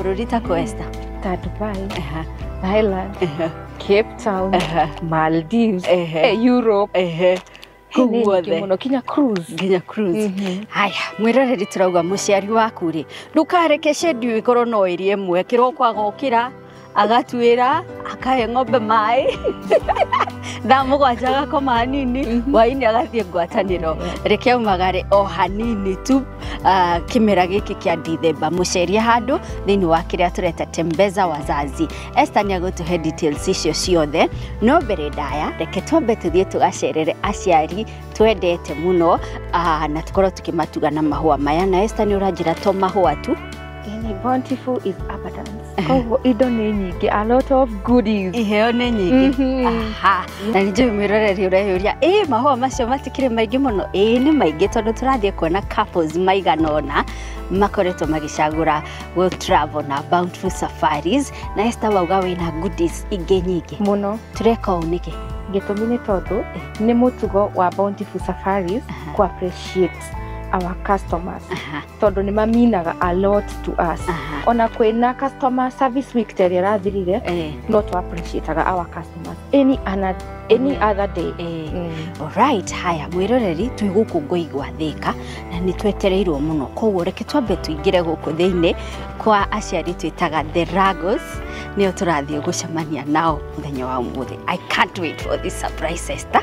Rurita Cuesta. Ta Dubai. Ajá. Thailand. Ajá. Cape Town. Ajá. Maldives. Ehe. eh, Europe. Ehe. Kuu Nini guothe. ingĩ mũno kinya cruise. nginya cruise Mhm. haya mwĩroreri tũrauga mũciari waku rĩ ndũkareke shendi ĩkorwo no ĩrĩ ĩmwe kĩroko agokĩra agatuĩra akahe ng'ombe maĩ thaa mũgwanja agakoma hanini Mhm. hwainĩ agathiĩ ngwatanĩro reke aumagare o hanini tu uh, kimera giki kia Dithemba mucerie handu thiini wa kiria tureta Tembeza Wazazi. Esther ni agutuhe details icio ciothe no mbere ndaya reke twambe tuthie tugacerere aciari twendete muno uh, na tukorwo tukimatuga na mahua maya na Esther ni uranjira to mahua tu Ini bountiful is abundance. Koguo indo nĩ nyingĩ, a lot of goodies. iheo nĩ nyingĩ Mhm. Aha. na nĩ njũĩ mwĩroreri ũreyũria ĩ mahũa macio matikĩrĩ maingĩ mũno ĩ nĩ maingĩ tondũ tũrathiĩ kuona couples maigana ũna makoretwo magĩcagũra go travel na bountiful safaris na Esther wauga wĩna goodies ingĩ nyingĩ Mũno. tũreka ũũ nĩkĩ Gĩtũmi nĩ tondũ nĩ mũtugo wa Bountiful Safaris Aha. ku appreciate our customers. Aha. tondå nä maminaga a lot to us Aha. ona kwä na customer service week ta ä rä a rathirire Eh, no tå appreciataga our customers any, ana, any other day eh. Mm. Alright, haya mwiroreri twĩ gũkũ ngoi gwa thĩka na nĩ twetereirwo mũno koguo reke twambe tũingĩre gũkũ thĩinĩ kwa aciari twĩtaga the Ragos nĩo tũrathiĩ gũcemania nao mũthenya wa ũmũthĩ I can't wait for this surprise Esther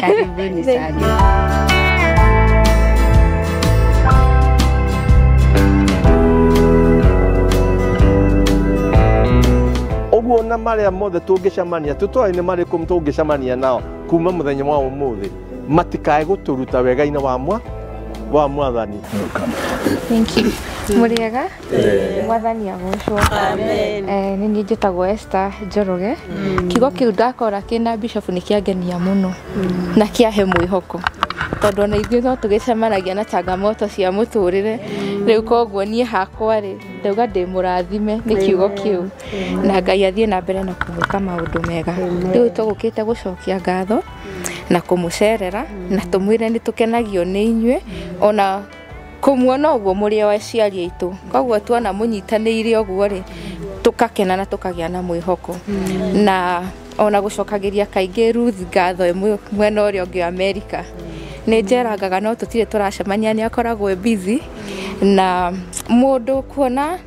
Karibuni sana. ũguo na marĩa mothe tũngĩcemania tũtoĩ nĩ marĩkũ tũngĩcemania nao kuma mũthenya wa ũmũthĩ matikae gũtũruta wega-inĩ wa mwa wa mwathani Thank you. Mũrĩega? mwathani agocwo Eh, nĩ niĩ njĩtagwo Esther Njoroge kiugo kĩu ndakora kĩna bishop nĩ kĩangenia mũno na kĩahe mwĩhoko tondũ ona ithuĩ no tũgĩcemanagia na changamoto cia mũtũrĩre rĩu koguo niĩ hakwa rĩ ndauga ndĩ mũrathime nĩ kiugo kĩu na ngai athiĩ na mbere na kũmwĩka maũndũ mega rĩu tũgũkĩte gũcokia ngatho na kũmũcerera na tũmwĩre nĩ tũkenagio nĩ inyuĩ ona kũmuona ũguo mũrĩ o aciari aitũ koguo tuona mũnyitanĩire ũguo rĩ tũkakena na tũkagĩa na mwĩhoko na ona gũcokagĩria kaingĩ Ruth ngatho ĩmwe mwena ũrĩa ũngĩ wa Amerika nĩ njerangaga no tũtirĩ tũracemania nĩ akoragwo e busy na mũndũ kuona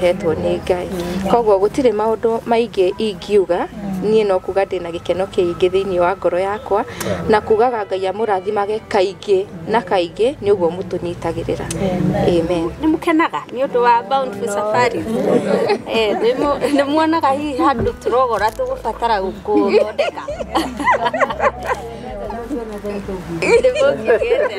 hetwo nĩ ngai koguo gũtirĩ maũndũ maingĩ ingiuga niĩ no kuga ndĩna gĩkeno kĩingĩ thĩinĩ wa ngoro yakwa na kugaga ngai amũrathimage kaingĩ na kaingĩ nĩ ũguo mũtũnyitagĩrĩra amen nĩ mũkenaga nĩ ũndũ wa bountiful safari Eh, nĩ mu- nĩ muonaga hihi handũ tũrogora tũgũbatara gũthondeka nĩ mũngĩgĩte